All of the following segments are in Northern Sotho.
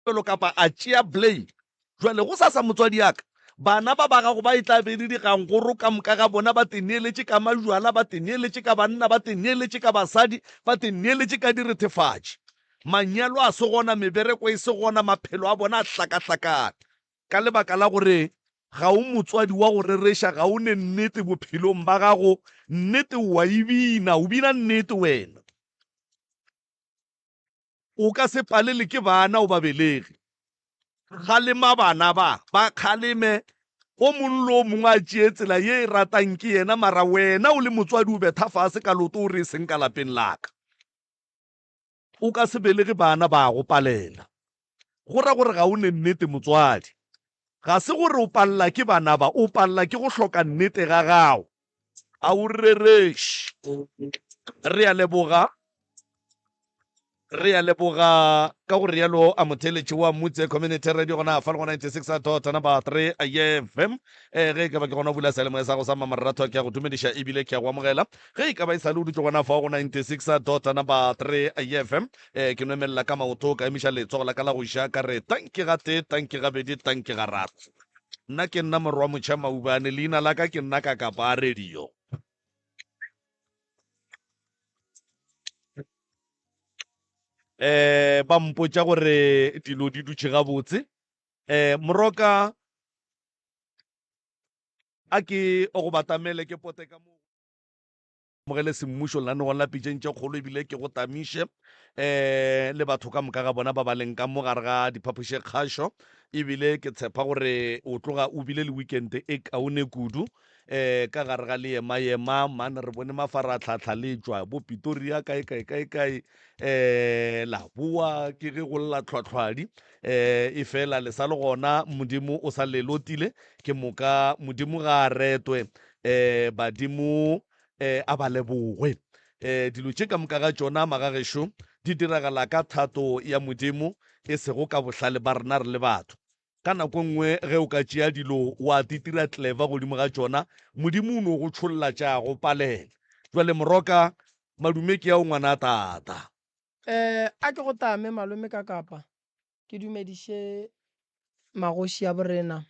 Pelo kapa a tšea Blaine. Bjale, gosasa, motswadi a ka, bana ba ba gago ba e tla be e le digangoro ka moka ga bona, ba teneeletše ka majwala, ba teneeletše ka banna, ba teneeletše ka basadi, ba teneeletše ka direthefatši. Manyalo a se gona, mebereko e se gona, maphelo a bona a hlakahlakane. Ka lebaka la gore ga o motswadi wa go rereša, ga o ne nnete bophelong ba gago. Nnete o a e bina, o bina nnete wena. O ka se palelwe ke bana o ba belege. Kgalema bana ba, ba kgaleme. O mongwe le o mongwe a tšee tsela ye e ratang ke yena, mara wena o le motswadi o betha fase ka loto o re, E seng ka lapeng la ka. O ka se belege bana ba go palela. Go ra gore ga o ne nnete motswadi. Ga se gore o palela ke bana ba, o palela ke go hloka nnete ga gago. A o rereše. Re a leboga. Re a leboga. Ka go realo a motheeletši wa Mutse Community Radio gona fa le go 96.3 FM. Eh, ge e ka ba ke gona o bula seyalemoya sa go sa Mmamoratho ke a go dumediša ebile ke a go amogela. Ge e ka ba e sale o dutše gona fa go 96.3 FM. Eh, ke nwemelela ka maoto ka emiša letsogo la ka la go ja ka re tanki ga tee, tanki ga bedi, tanki ga raro. Nna ke nna morwa Motšha Maubane, leina la ka ke nna Kakapa a radio. eh ba mpotša gore dilo di dutše gabotse eh moroka a ke o go batamele ke pote ka mo mogele semmušo lenaneong la pitšeng tše kgolo ebile ke go tamiše um le batho ka moka ga bona ba ba leng ka mo gare ga diphapoše kgašo ebile ke tshepa gore o tloga o bile le weekend e kaone kudu um ka gare ga leema-ema mane re bone mafaratlhatlha le tšwa bo pitoria kae kae kae kae um la boa ke ge go lla tlhwatlhwadi um e fela le sa le gona modimo o sa lelotile ke moka modimo ga a retwe um badimo um a ba lebogwe. um dilo tše ka moka ga tšona magagešo di diragala ka thato ya Modimo, e sego ka bohlale ba rena re le batho. Ka nako nngwe ge o ka tšea dilo wa titira tleva godimo ga tšona, Modimo o no go tšholla tša go palela. Bjale moroka, madume ke ao ngwanatata. Um a ke go tame, malome, ka kapa? Ke dumediše magoši a bo rena,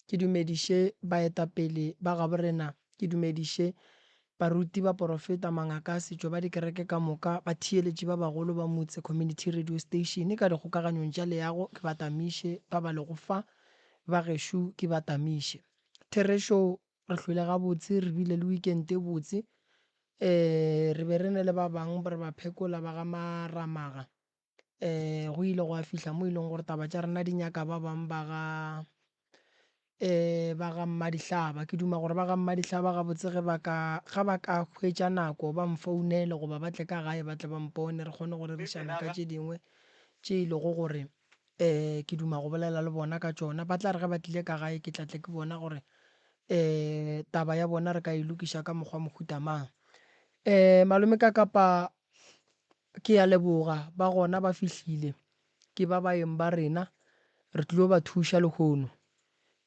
ke dumediše baetapele ba gabo rena, ke dumediše baruti, baporofeta, mangaka a setšo ba dikereke ka moka, batheeletši ba bagolo ba motse, community radio station ka dikgokaganyong tša leago, ke ba tamiše, ba ba lego fa, ba gešo ke ba tamiše. Therešo, re hlwele gabotse, re bile le weekend e botse, re be re ne le ba bang re ba phekola ba ga Maramaga, um go ile gwa fihla mo e leng gore taba tša rena di nyaka ba bang ba ga um ba ga mmadihlaba. Ke duma gore ba ga mmadihlaba gabotse ge ba ka ga ba ka hwetša nako ba nfounele goba ba tle ka gae ba tle ba mpone re kgone go rerišana ka tše dingwe tše e lego gore um ke duma go bolela le bona ka tšona. Ba tla re ge ba tlile ka gae ke tla tle ke bona gore um taba ya bona re ka e lokiša ka mokgwa mohuta mang. Um malome Kakapa Ke a leboga, ba gona ba fihlile. Ke ba baeng ba rena. Re tlilo ba thuša lehono.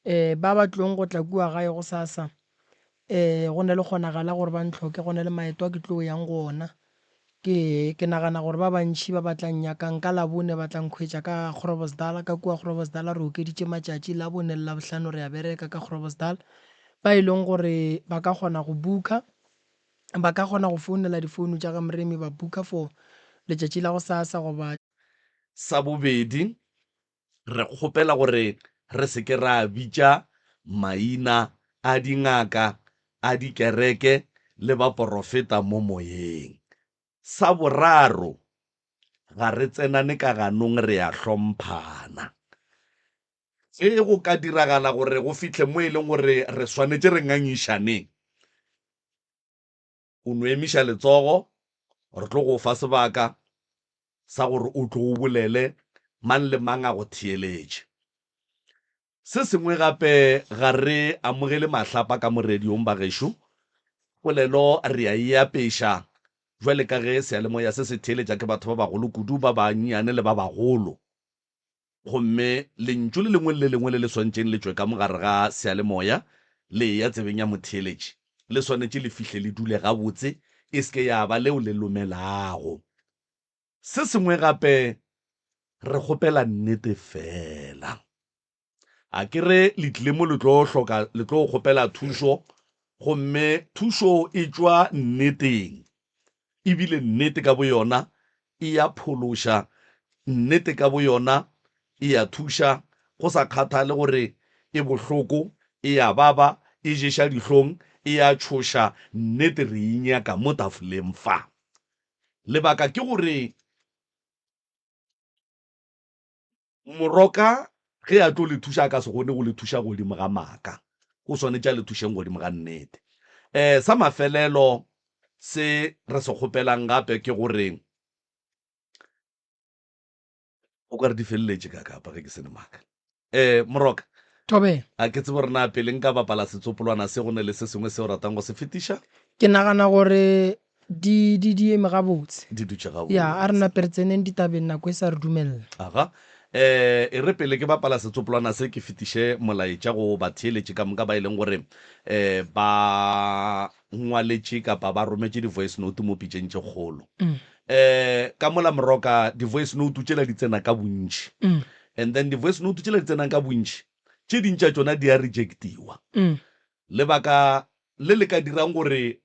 Um, ba ba tlilong go tla kua gae gosasa, um, go na le kgonagalo ya gore ba ntlhoke, go na le maeto a ke tlil'o yang go ona. Ke, ke nagana gore ba bantši ba ba tla nnyakang ka Labone ba tla nkhwetša ka Groblersdal, ka kua Groblersdal re okeditše matšatši, Labone le Labohlano re a bereka ka Groblersdal. Ba e leng gore ba ka kgona go booker, Ba ka kgona go founela difounu tša ga Mremi ba booker for letšatši la gosasa goba. Sa bobedi, re kgopela gore re se ke ra bitša maina a dingaka, a dikereke le baporofeta mo moyeng. Sa boraro, ga re tsenane ka ganong, re a hlomphana. Ge go ka diragala gore go fihle mo e lego gore re swanetše re ngangišaneng, o no emiša letsogo, re tlo go fa sebaka sa gore o tle o bolele, mang le mang a go theeletše. Se sengwe gape, ga re amogele mahlapa ka mo radiong, bagešo. Polelo re a e apeša bjale ka ge seyalemoya se se theeletša ke batho ba bagolo kudu, ba bannyane le ba bagolo. Gomme Lentšu le lengwe le le lengwe le le swantšeng le tšwe ka mo gare ga seyalemoya, le eya tsebeng ya motheeletši, le swanetše le fihle le dule gabotse, e se ke ya ba leo le lomelago se sengwe gape. Re kgopela Nnete feela. A ke re le tlile mo le tlo hloka, le tlo kgopela thušo, gomme thušo e tšwa Nneteng, ebile Nnete ka boyona E a phološa. Nnete ka boyona e a thuša, go sa kgathale gore e bohloko, e a baba, e ješa dihlong, e a tšhoša. Nnete re e nyaka mo tafoleng fa. Lebaka ke gore, Moroka ge a tlo le thuša, a ka se kgone go le thuša godimo ga maaka, o swanetše a le thušeng godimo ga nnete. Um sa mafelelo se re se kgopelang gape ke gore, o ka re di feleletše ka kapa ge ke se ne maaka. Um Moroka, Tobela. a ke tsebe gore na pele nka bapala setsopolwana se go ne le se sengwe se o ratang go se fetiša? Ke nagana gore Di, di, di eme gabotse. Di dutše gabotse. Ya, a re nape re tseneng ditabeng nako e sa re dumelela. Aga. Eh, e re pele ke bapala setsopolwana se ke fetiše molaetša go batheeletši ka moka ba e leng gore eh, ba ngwaletše kapa ba rometše di-voice note mo pitšeng tše kgolo. Eh, ka mola moroka di-voice note tšela di tsena ka bontši. And then di-voice note tšela di tsenang ka bontši, tše ding tša tšona di a rejectiwa. Lebaka le le ka dirang gore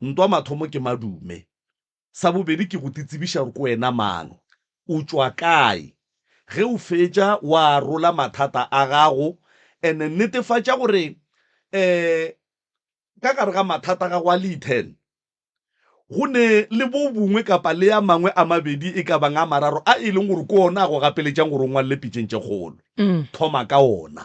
Ntwa mathomo ke madume. Sa bobedi ke go titsebiša gore ke wena mang, o tšwa kae. Ge o fetša wa arola mathata a gago and netefatša gore um ka gare ga mathata a gago a lee ten go ne le bo bongwe kapa le a mangwe a mabedi e ka bang a mararo a e leng gore ke ona a go gapeletšang gore o ngwalele pitšeng tše kgolo. Thoma ka ona.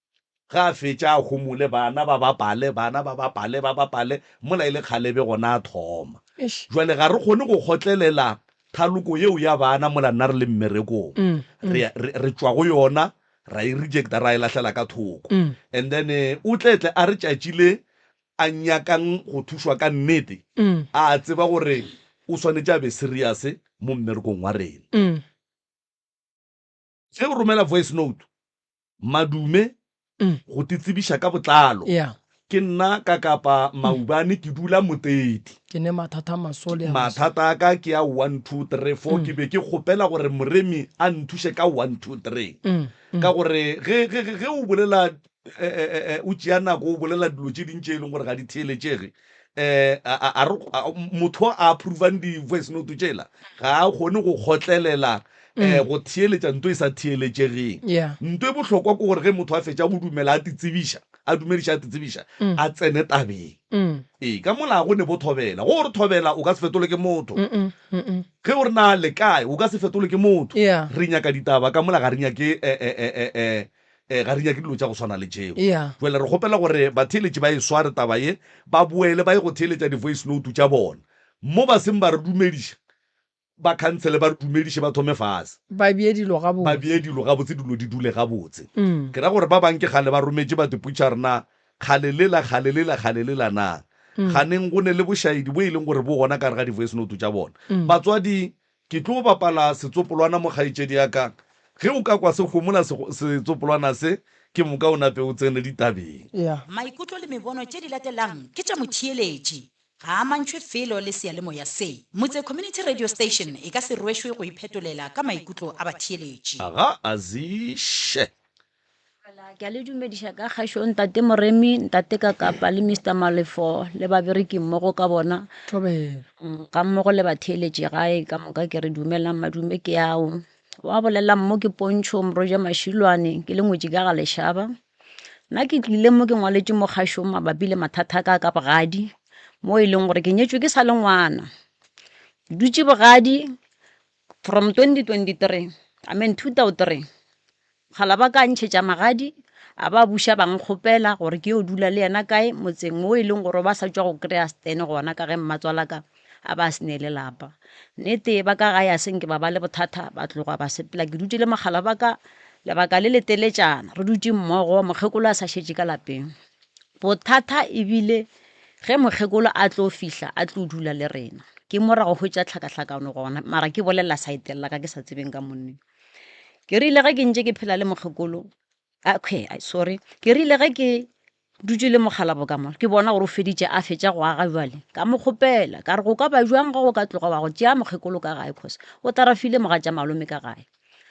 Ge a fetša a homole, bana ba bapale, bana ba bapale, ba bapale, mola e le kgalebe gona a thoma. Jwale ga re kgone go kgotlelela thaloko yeo ya bana mola nna re le mmerekong. Re, re, re tšwa go yona, ra e rejecta, ra e lahlela ka thoko. And then o tle tle a re tšatši le a nyakang go thušwa ka nnete, a a tseba gore o swanetše a be serious mo mmerekong wa rena. ge o romela voice note madume mm. go te tsebiša ka botlalo yeah. ke nna ka kapa mm. maubane ke dula motedi ke ne mathata masole mathata a ka ke a one two three four mm. ke be ke kgopela gore moremi a nthuše ka one two three mm. mm. ka gore ge o bolela o tšea nako o bolela dilo tše ding tše e leng gore ga di theeletšege um motho a approvang di-voice note tšela ga a kgone go kgotlelela um go theeletša nto e sa theeletšegeng nto e bohlokwa ke gore ge motho a fetša go dumela a titsebiša a dumediša a titsebiša mm. a tsene tabeng mm. ee ka molago ne bo thobela go re thobela o ka se fetole ke motho ge o re na le kae o ka se fetole ke motho re nyaka ditaba ka mola ga re nyake eh, eh, eh, Ee, ga re nyake dilo tša go swana le tšeo. Yeah. Jwale re kgopela gore batheeletši ba e sware taba ye, ba boele ba ye go theeletša di-voice note tša bona. Mo ba seng ba re dumediša, ba khansele ba re dumediše, ba thome fase. Ba bee dilo gabotse. Ba bee dilo gabotse, dilo di dule gabotse. Ke ra gore ba bang ke kgale ba rometše batho puchar na, kgale lela, kgale lela, kgale lela na. Ganeng go ne le bošaedi bo e leng gore bo gona ka gare ga di-voice note tša bona. Batswadi Ke tlo bapala setsopolwana mo kgaetšedi ya ka, ge o ka kwa se homola setsopolwana se, ke moka o nape o tsene ditabeng. Maikutlo le mebono tše di latelang ke tša motheeletši, ga a amantšhwe felo le seyalemoya se. Motse Community Radio Station e ka se rwešwe go iphetolela ka maikutlo a batheeletši. Ga a ziše. Ke a le dumediša ka kgašo ntate Moremi, ntate Kakapa le Mr Malefo le babereki mmogo ka bona ga mmogo le batheeletši gae ka moka ke re dumelang madume ke ao. Wa bolelelang mo ke Pontšho Moroja Mašilwane ke le ngwetši ka ga lešaba. Nna ke tlile mo ke ngwaletše mo kgašong mabapi le mathata a ka ka bogadi mo e leng gore ke nyetšwe ke sa le ngwana. Ke dutše bogadi From 2023, amen, 2003, kgala ba ka ntšhetša magadi, a ba buša ba nkgopela gore ke yo dula le yena kae motseng wo e leng gore ba sa tšwa go kry-a stene gona ka ge mmatswalaka a ba a se ne le lapa. Nnete ba ka gae a se nke ba ba le bothata, ba tloga ba sepela ke dutše le mokgala ba ka lebaka le leteletšana, re dutše mmogo mokgekolo a sa šetše ka lapeng. Bothata e bile ge mokgekolo a tlo fihla a tlo dula le rena. Ke morago go tša tlhakatlhakano gona, mara ke bolelela saete la ka ke sa tsebeng ka monneng. Ke rile ge ke ntše ke phela le mokgekolo, akhwe, sorry, ke rile ge ke dutše le mokgalabo ka mo, ke bona gore o feditše, a fetša go aga bjale. Ka mo kgopela, ka re go ka ba bjang ge o ka tloga wa go tšea mokgekolo ka gae, cos o tarafile mogatša malome ka gae.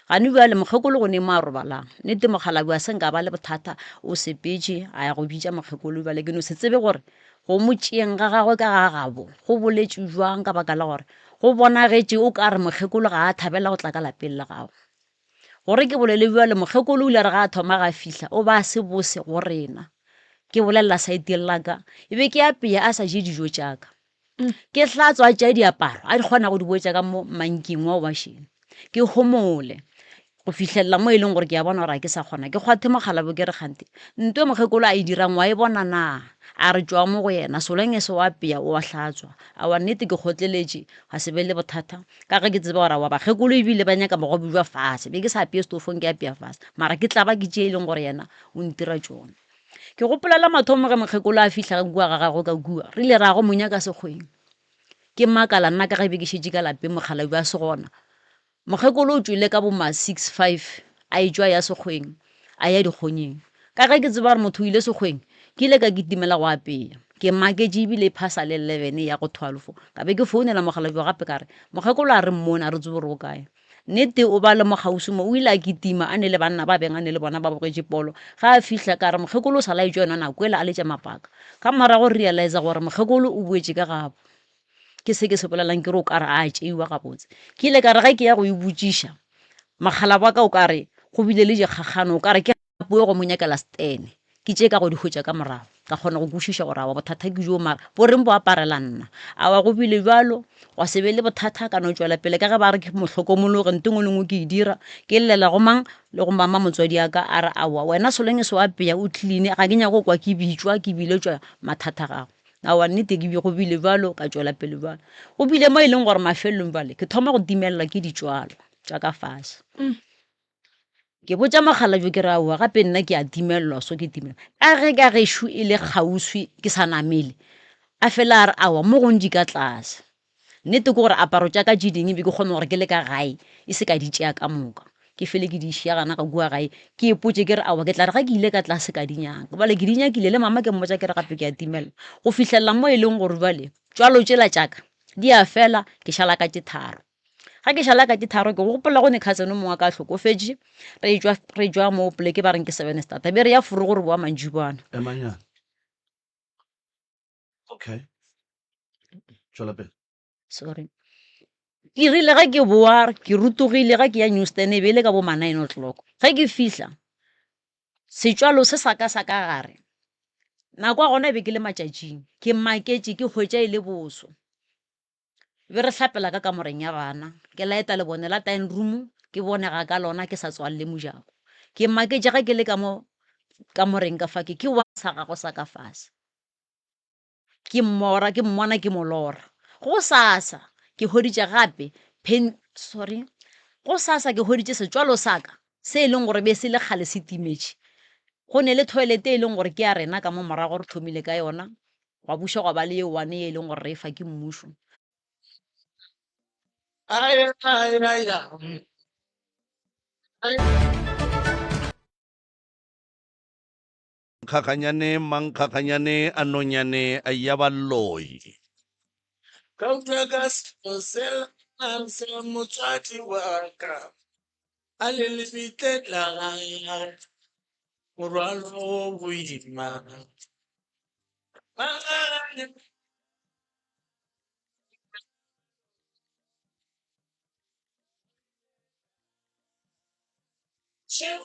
gane bjale mokgekolo go ne mo a robalang nete mokgalabi a seng ka ba le bothata o sepetše a ya go bitša mokgekolo bjale ke no se tsebe gore go mo tšeeng ga gagwe ka ga gabo go boletše jwang ka baka la gore go bonagetše o ka re mokgekolo ga a thabela go tla ka lapeng la gago gore ke bolele bjale mokgekolo o ile re ga a thoma ga fihla o ba a se bose go rena ke bolelela saeteng laka e be ke apeya a sa je dijo tšaka Ke tla tswa tša diaparo a di kgona go di boetša ka mo manking wa obašeno ke homole go fihlelela mo e leng gore ke a bona gore a ke sa kgona ke kgwathe mokgalabo ke re kgante nto e mokgekolo a e dirang wa e bona na a re tšwa mo go yena soleng e se wa peya o a hlatswa a wa nnete ke kgotleletše ga se be le bothata ka ge ke tseba gore wa bakgekolo ebile ba nyaka bogobe jwa fase be ke sa apeye stofong ke apea fase mara ke tla ba ke tše e leng gore yena o ntira tšona Ke gopola la mathomo ge mokgekolo a fihla ka kua ga gago ka kua, re ile ra go monya ka sekgweng. Ke makala nna ka ge be ke šetše ka lapeng mokgalabje a se gona. Mokgekolo o tšwele ka bo ma six five a e tšwa ya sekgweng a ya dikgonyeng. Ka ge ke tseba gore motho o ile sekgweng, ke ile ka kitimela go apeya. Ke maketše ebile e phasa le eleven e ya go twelve. Ka be ke founela mokgalabje gape ka re, mokgekolo a re mmone a re tsebe gore o kae. Nnete o ba le mokgauswi mo, o ile a kitima, a ne le banna ba beng a ne le bona ba bogetše polo. Ge a fihla, ka re, Mokgekolo o sa laetšwa yona nako ele a letša mapaka. Ka morago re realiza gore mokgekolo o boetše ka gabo. Ke se ke se bolelang ke re o ka re a a tšeiwa gabotse. Ke ile ka re ge ke ya go e botšiša, mokgalabaka o ka re go bile le dikgakgano, o ka re ke. Nako e go mo nyakela Stan. Ke tše ka go di hwetša ka morago, ka kgona go kwešiša gore awa bothata ke bjo, mara bo reng bo aparela nna? Awa go bile bjalo? Gwa se be le bothata, a ka no tšwela pele ka ge ba re ke mohlokomologe, ntho e nngwe le e nngwe ke e dira, ke llela go mang le go mama motswadi wa ka, a re aowa wena so long as o apeya, o clean-e, ga ke nyake go kwa ke bitšwa, ke biletšwa mathata a gago. Aowa nnete go bile bjalo, ka tšwela pele bjalo. Go bile mo e leng gore mafelelong bjale ke thoma go timelelwa ke ditswalo tša ka fase. Ke botša mokgalabje ke re, aowa gape nna ke a timelelwa so ke timelelwa, ka ge ka gešo e le kgauswi ke sa namele, a fela a re aowa mo gong di ka tlase. Nnete ke gore aparo tša ka tše dingwe be ke kgona gore ke le ka gae e se ka di tšea ka moka, ke fele ke di šiya gona ka kua gae, ke ipotše ke re aowa ke tla re ge ke ile ka tlase ka di nyaka gobane ke di nyakile le mama ke mmotša ke re gape ke a timelelwa. Go fihlelela mo e leng gore jwale tšwalo tšela tša ka di a fela ke šala ka tše tharo. ga ke šala ka ke tharo ke gopola go ne cousin mongwe a ka hlokofetše re jwa mo poleke ba reng ke seven stata be re ya furu gore boa mantšibana okay sorry ke rile ga ke boa ke rutogile ga ke ya newstan e be e le ka bo ma nine o'clock ge ke fihla setswalo se sa ka sa ka gare nako ya gona e be ke le matšatšing ke maketše ke hwetša e le boso be re hlapela ka kamoreng ya bana ke laeta lebone la time room ke bone ga ka lona ke sa tswalle mojako ke maketše ga ke le ka mo kamoreng ka fa ke ke wa sa gago sa ka fase ke mmora ke mmona ke molora go sasa ke hoditše gape pen sorry go sasa ke hoditše setswalo saka se e leng gore be se le kgale se timetše go ne le toilet e leng gore ke ya rena ka mo morago re thomile ka yona gwa buša gwa ba le ye one ye e leng gore re e fa ke mmušo Kgakganyane mankgakganyane a nonyane ya balloi. Gauta ka selo se la nang se motswadi wa ka. a le lebitle la gagwe morwalo o boima magare Tšeo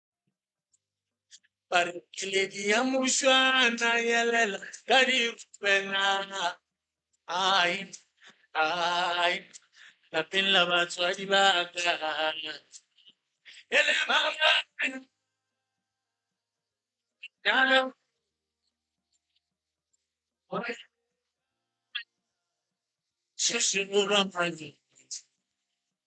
Barkeledi ya mošwana yelela ka dipena ai ai lapeng la batswadi ba ka e le maabane nyana gore se se borwa mane